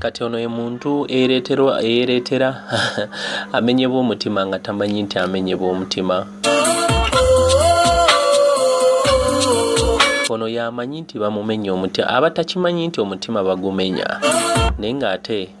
kati ono ye muntu eyereetera amenyebwa omutima nga tamanyi nti amenyebwa omutima ono yamanyi nti bamumenya omutima aba takimanyi nti omutima bagumenya naye ng'ate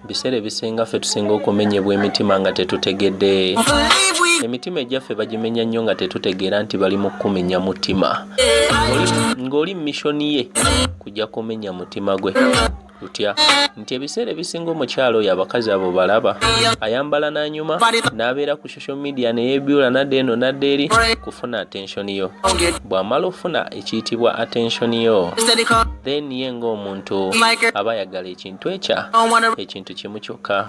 biseera ebisinga ffe tusinga okumenyebwa emitima nga tetutegedde emitima egyaffe bagimenya nnyo nga tetutegeera nti bali mu kukumenya mutima ng'oli mumishoni ye kujja kumenya mutima gwe lutya nti ebiseera ebisinga omukyalo oyo abakazi abo balaba ayambala n'anyuma n'abeera ku social media neyebyula nadde eno nadde eri kufuna attention yo bw'amala ofuna ekiyitibwa attention yo then ye ng'omuntu aba ayagala ekintu twekya ekintu kimu kyokka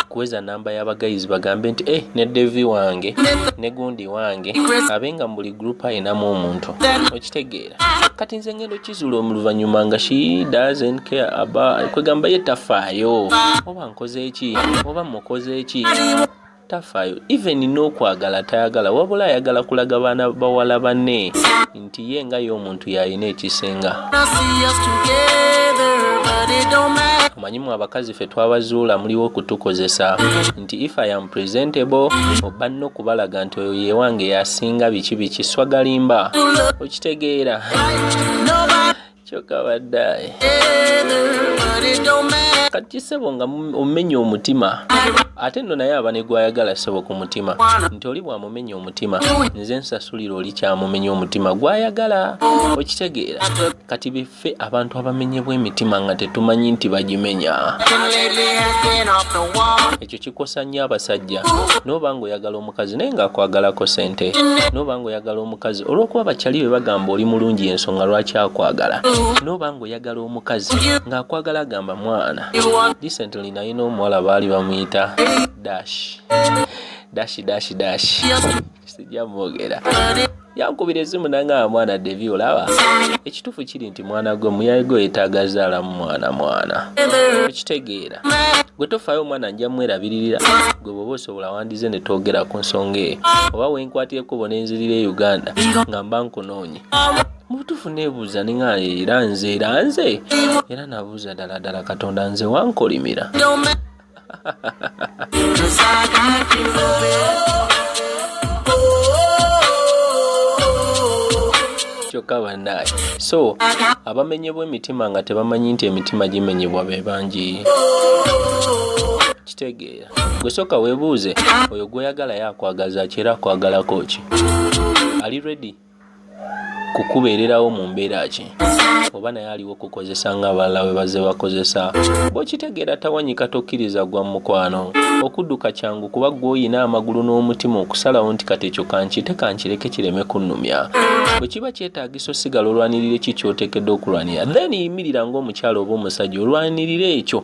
kuweza namba y'abagayizi bagambe nti e ne devi wange ne gundi wange abe nga mu buli gurupu ayinamu omuntu okitegeera kati nze ngendo kizuula omuluvannyuma nga shi dazen care aba kwegamba ye tafaayo oba nkoze eki oba mukoze eki tafayo even nokwagala tayagala wabula ayagala kulaga baana bawala bane nti ye nga ye omuntu yalina ekisinga omanyimu abakazi fe twabazuula muliwo okutukozesa nti if i am presentable oba no kubalaga nti oyo yewange yasinga biki biki swagalimba okitegeera kyoka badaye kati sebo nga omenya omutima ate no naye aba negwayagala sebo ku mutima nti oli bwamumenya omutima nze nsasulira oli kyamumenya omutima gwayagala okitegeera kati biffe abantu abamenyebwa emitima nga tetumanyi nti bagimenya ekyo kikosa nnyo abasajja noba nga oyagala omukazi naye ngaakwagalako sente noba nga oyagala omukazi olwokuba bakyali be bagamba oli mulungi ensonga lwaki akwagala noba nga oyagala omukazi ngaakwagala agamba mwana disently naye n'omuwala baali bamuyita dash dashi dashi dashi sijja mwogera yankubira esimu nangamba mwana devi olaba ekituufu kiri nti mwana gwe muyaye gwe yetaaga zaalamu mwana mwana okitegeera gwe tofaayo omwana nja mwerabiririra gwe bwoba osobola wandize ne twogera ku nsonga eyo oba wenkwatireko bona enzirira e uganda nga mba nkunoonye mubutuufu nebuuza ninga era nze era nze era nabuuza ddala ddala katonda nze wankolimira kyokka banaye so abamenyebwa emitima nga tebamanyi nti emitima gimenyebwa be bangi kitegeera gwe sooka weebuuze oyo gwoyagala yo akwagaza ki era akwagalako ki ali ready kukubeererawo mu mbeera ki oba naye aliwo kukozesa nga abalala we bazze bakozesa bw'okitegeera tawanyika tokkiriza gwa mukwano okudduka kyangu kuba gw'olina amagulu n'omutima okusalawo nti kati ekyo kankite kankireke kireme kunnumya bwe kiba kyetaagisa osigala olwanirira eki kyoteekedde okulwanira then yimirira ng'omukyalo oba omusajja olwanirira ekyo